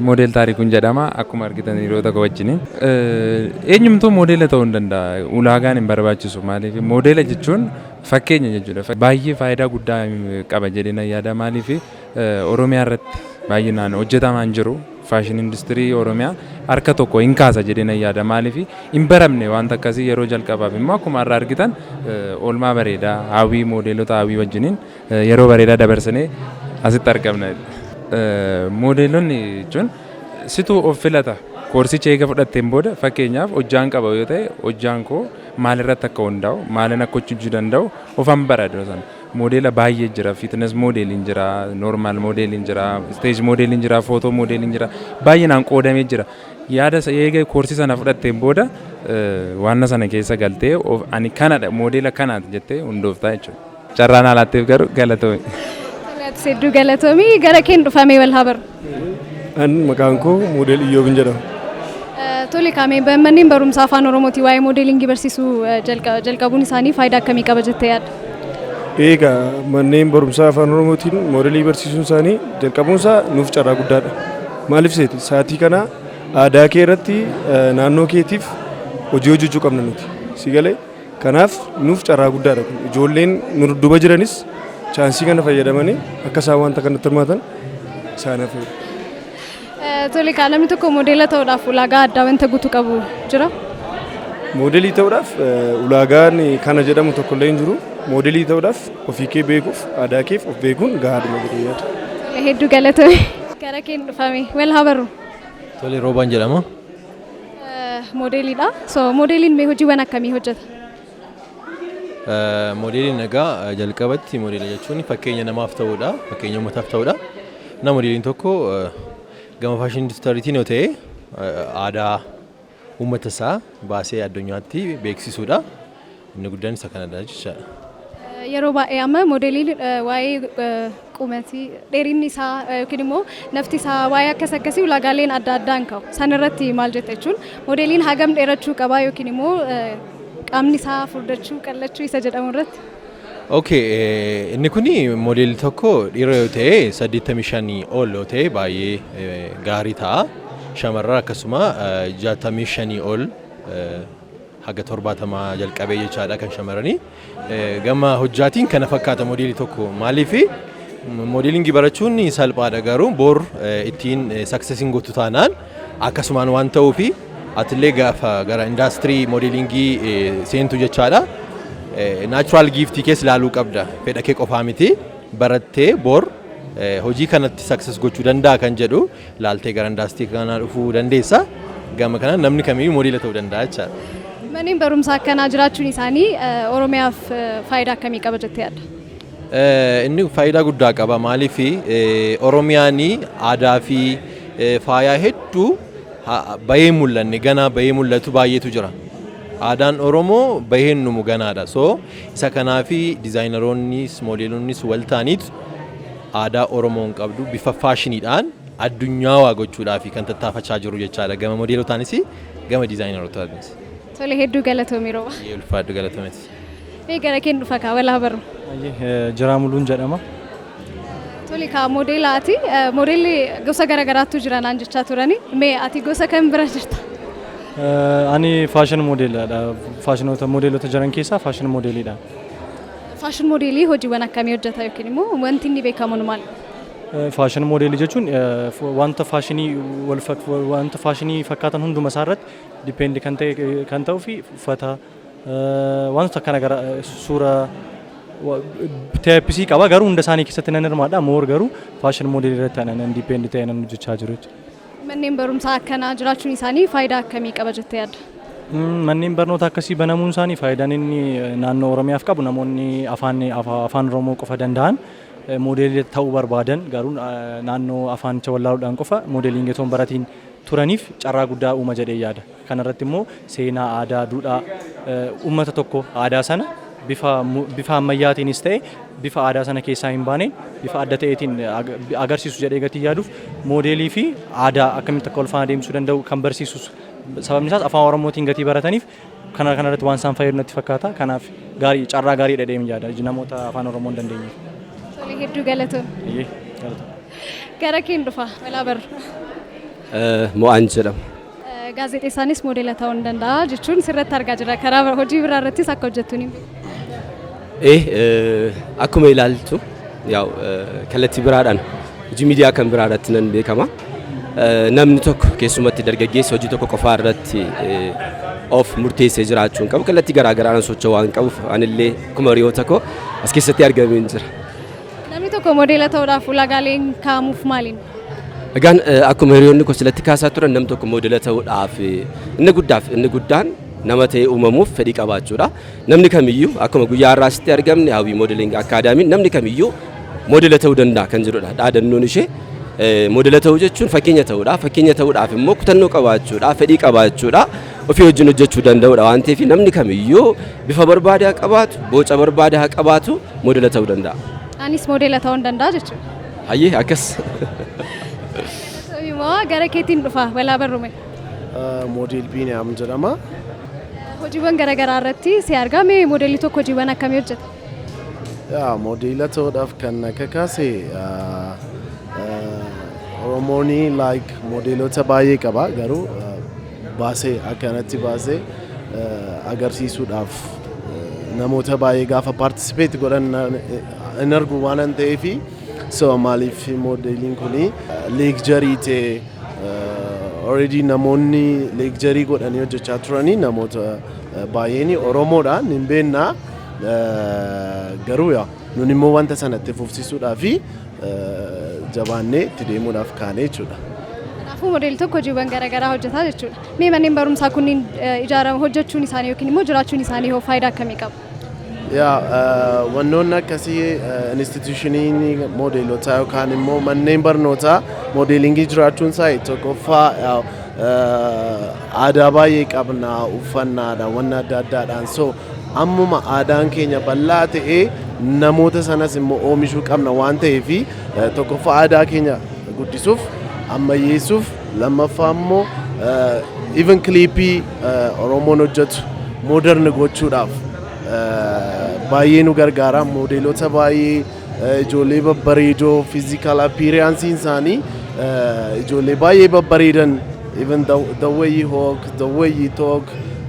Model Taarikuun jedhama. Akkuma argitan hiriyoota koo wajjini. Eenyumtuu moodela ta'uu hin danda'a. Ulaagaan hin barbaachisu. Maaliif moodela jechuun fakkeenya jechuudha. Baay'ee faayidaa guddaa qaba jedhee nan yaada. Maaliif Oromiyaa irratti baay'inaan hojjetamaa hin jiru. Faashin industirii Oromiyaa harka tokko hin kaasa jedhee nan yaada. Maaliif hin baramne wanta akkasii yeroo jalqabaaf immoo akkuma har'a argitan oolmaa bareedaa hawwii moodeelota hawwii wajjiniin Yeroo bareedaa dabarsinee asitti argamna. Moodeelonni jechuun situ of filata. Koorsicha eega fudhatteen booda fakkeenyaaf hojjaan qaba yoo ta'e hojjaan koo maalirratti akka hundaa'u maalin akka hojjechuu danda'u ofan bara dura sana. Moodeela baay'ee jira fiitines moodeeliin jira noormaal moodeeliin jira isteeji moodeeliin jira footoo moodeeliin jira baay'inaan qoodamee jira. Yaada isa eega koorsii sana fudhatteen booda waanna sana keessa galtee ani kanadha moodeela kanaati jettee hundooftaa jechuudha. Carraa naa laatteef garuu galatoomi. Tole atis hedduu galatoomi. Gara keen dhufamee wal haa barru. An maqaan koo moodel Iyyoobin jedhama. Eh, Tole kaamee manneen barumsaa afaan Oromootiin waa'ee moodeelingii barsiisuu eh, jalqa- jalqabuun isaanii faayidaa akkamii qaba jettee yaadda? Eegaa manneen barumsaa afaan Oromootiin moodelii barsiisuun isaanii jalqabuun isaa nuuf carraa guddaadha. Maaliif seeti? Saatii kana aadaa kee irratti eh, naannoo keetiif hojii hojjechuu qabna nuti. Si galee? Kanaaf nuuf carraa guddaadha kun. Ijoolleen nu dudduuba jiranis chaansii kana fayyadamanii akka isaan wanta kanatti hirmaatan isaan hafeera. Eh, Tole egaa namni tokko moodeela ta'uudhaaf ulaagaa addaa wanta guutuu qabu jira. Moodelii ta'uudhaaf eh, ulaagaan kana jedhamu tokko illee hin jiru. Moodelii ta'uudhaaf ofii kee beekuuf aadaa keef of beekuun gahaadhuma jedhee yaada. Tole hedduu galatoomi. Gara keen dhufame. Wal haa barru. Tole roobaan jedhama. Moodeeliidha. So moodeeliin mee hojiiwwan akkamii hojjeta? Moodeeliin egaa jalqabatti moodeela jechuun fakkeenya namaaf ta'uudha. Fakkeenya uummataaf ta'uudha. Na moodeeliin tokko gama faashinii induustiriitiin yoo ta'e aadaa uummata isaa baasee addunyaatti beeksisuudha. Inni guddaan isa kanadha jechaadha. Yeroo baay'ee amma moodeliin waa'ee qumati dheerinni isaa yookiin immoo nafti isaa waa'ee akkas akkasii ulaagaaleen adda addaa hin ka'u. San irratti maal jetta jechuun moodeliin hagam dheerachuu qabaa yookiin immoo qaamni isaa furdachuu qal'achuu isa jedhamu irratti. Okay, inni kun moodeelli tokko dhiira yoo ta'e 85 ol yoo ta'e baay'ee gaarii ta'a. Shamarran akkasuma 65 ol haga 70 jalqabee jechaadha kan shamaranii. Gama hojjaatiin kana fakkaata modeelii tokko maaliif modeelingii barachuun salphaadha garuu bor ittiin saksesiin gootu taanaan akkasumaan waan ta'uu fi atillee gaafa gara indaastirii modeelingii seentu jechaadha. Naachuraal giiftii kees ilaaluu qabda fedha kee qofaa miti barattee bor hojii kanatti sakses gochuu danda'a kan jedhu laaltee gara indaastii kanaa dhufuu dandeessa. Gama kanaan namni kamiyyuu modeela ta'uu danda'a jechaadha. Manneen barumsaa akkanaa jiraachuun isaanii eh, Oromiyaaf eh, faayidaa akkamii qaba jettee yaadda? Eh, Inni faayidaa guddaa qaba. Maaliif Oromiyaan aadaa fi eh, faayaa hedduu ha- bahee hin mul'anne ganaa bahee mul'atu baay'eetu jira. Aadaan Oromoo bahee hin dhumu ganaadha. So isa kanaafi dizaayinaroonnis moodeelonnis wal ta'aniitu aadaa Oromoon qabdu bifa faashiniidhaan addunyaawaa gochuudhaafi kan tattaafachaa jirru jechaadha gama modeelotaanis gama dizaayinarotaatiinis. Tole hedduu galatoomi Roobaa. Hayyee ulfaadhu galatoomi atis. Mee gara keen dhufa kaa wal haa barru. Hayyee Jiraa Muluun jedhama. Tole kaa modeela ati eh, modeelli gosa gara garaattu jira naan jechaa turani. Mee ati gosa kam bira jirta? Eh, Ani faashin moodeelidha. Faashinoota moodeelota jiran keessaa faashin moodeelidha. Faashin moodeelii hojiiwwan akkamii hojjeta yookiin immoo wanti inni beekamuun maal? Faashin moodeelii jechuun wanta faashinii wanta faashinii fakkaatan hunduma isaa irratti dipendi kan ta'e kan ta'uu fi uffata wantoota akkana gara suura teepisii qaba garuu hunda isaanii keessatti nan hirmaadha moor garuu faashin moodeelii irratti nan dipendi ta'e nan hojjechaa jiru jechuudha. Manneen barumsaa akkanaa jiraachuun isaanii faayidaa akkamii qaba jettee yaadda? Manneen barnoota akkasii banamuun isaanii faayidaan inni naannoo Oromiyaaf qabu namoonni afaan afaan Oromoo qofa danda'an moodeelii ta'uu barbaadan garuu naannoo afaanicha wallaaluudhaan qofa moodeeliin getoon baratiin turaniif carraa guddaa uuma jedhee yaada. Kana irratti immoo seenaa, aadaa, duudhaa uummata tokkoo, aadaa sana bifa bifa ammayyaatiinis ta'e bifa aadaa sana keessaa hin baaneen bifa adda ta'eetiin agarsiisu jedhee gatii yaaduuf moodeelii fi aadaa akkamitti akka wal faana deemsisuu danda'u kan barsiisus sababni isaas afaan Oromootiin gatii barataniif kana kana irratti waan isaan fayyadu natti fakkaata. Kanaaf gaarii carraa gaarii dhedheem yaada namoota afaan Oromoo hin dandeenyeef. Tole hedduu galatoon. Eeyyee, galatoon. Gara keen dhufa walaa barru. Mo'aan jedhama. Gaazexeessaanis moodela ta'uu ni danda'a jechuun sirratti argaa jirra. Karaa hojii biraa irrattis akka hojjettu ni Eh, eh, akkuma ilaaltu yaa'u eh, kallattii biraadhaan hojii miidiyaa kan biraa irratti nan beekama. Eh, Namni tokko keessumatti dargaggeessi hojii tokko qofaa irratti eh, of murteessee jiraachuu hin qabu. Kallattii garaa garaan socho'uu waan qabuuf anillee akkuma hiriyoota koo as keessatti argameen jira. Namni tokko modeela ta'uudhaaf ulaagaaleen kaa'amuuf maaliin? Egaan eh, akkuma hiriyoonni koo silatti kaasaa turan nam tokko moodela ta'uudhaaf eh, inni guddaaf inni guddaan nama ta'ee uumamuuf fedhii qabaachuudha. Namni kamiyyuu akkuma guyyaa har'aa asitti argamne hawwii moodeling akkaadaamiin namni kamiyyuu moodela ta'uu danda'a kan jedhudha. Dhaadannoon ishee eh, moodela ta'uu jechuun fakkeenya ta'uudha. Fakkeenya ta'uudhaaf immoo kutannoo qabaachuudha, fedhii qabaachuudha. ofii wajjin hojjechuu danda'udha waan ta'eef namni kamiyyuu bifa barbaade haa qabaatu, boca barbaade haa qabaatu moodela ta'uu danda'a. Anis moodela ta'uu nan danda'a jechuudha. Hayyee akkas. Moo gara keetiin dhufa walaa barrume. Moodel Biiniyaam jedhama. Hojiiwwan garaagaraa irratti si argaa mee moodelli tokko hojiiwwan akkamii hojjeta? Yaa moodela ta'uudhaaf kan na kakaase ah, ah, Oromoon like moodeloota baay'ee qaba garuu ah, baasee akka kanatti baasee agarsiisuudhaaf namoota baay'ee gaafa paartisipeeti godhan hin argu waanan ta'eef so maaliif moodeeliin kun leekjarii ta'e already namoonni leekjarii godhanii hojjechaa turanii namoota baay'een Oromoodha hin beekna garuu yaa Nun immoo wanta sana itti fufsiisuudhaa fi jabaannee itti deemuudhaaf kaane jechuudha. Kanaafuu modeelii tokko hojiiwwan garaagaraa hojjetaa jechuudha. Mee manneen barumsaa kunniin ijaarama hojjechuun isaanii yookiin immoo jiraachuun isaanii hoo faayidaa akkamii qabu? Yaa wannoonni akkasii instituushiniin moodeelotaa yookaan immoo manneen barnootaa moodeelingii jiraachuun isaa tokkoffaa aadaa baay'ee qabna uffannaadha wanna adda addaadhaan so Ammuma aadaan keenya bal'aa ta'ee namoota sanas immoo oomishuu qabna waan ta'eef eh, tokkoffaa aadaa keenya guddisuuf ammayyeessuuf lammaffaa immoo eh, even kiliipii eh, Oromoon hojjetu modern gochuudhaaf eh, baay'ee nu gargaara moodeelota baay'ee Ijoollee babbareedoo physical appearance isaanii ijoollee baay'ee babbareedan even the, the way you walk, the way you talk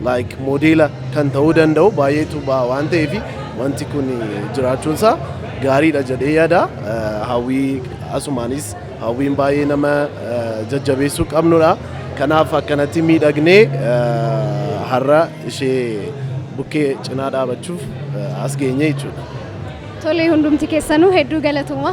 like modeela kan ta'uu danda'u baay'eetu ba'a waan ta'eef wanti kun jiraachuun isaa gaariidha jedhee yaada hawwii asumaanis Hawwiin baay'ee nama jajjabeessuu qabnudha. Kanaaf akkanatti miidhagnee har'a ishee bukkee cinaa dhaabachuuf as geenye jechuudha. Tole hundumti keessanuu hedduu galatooma.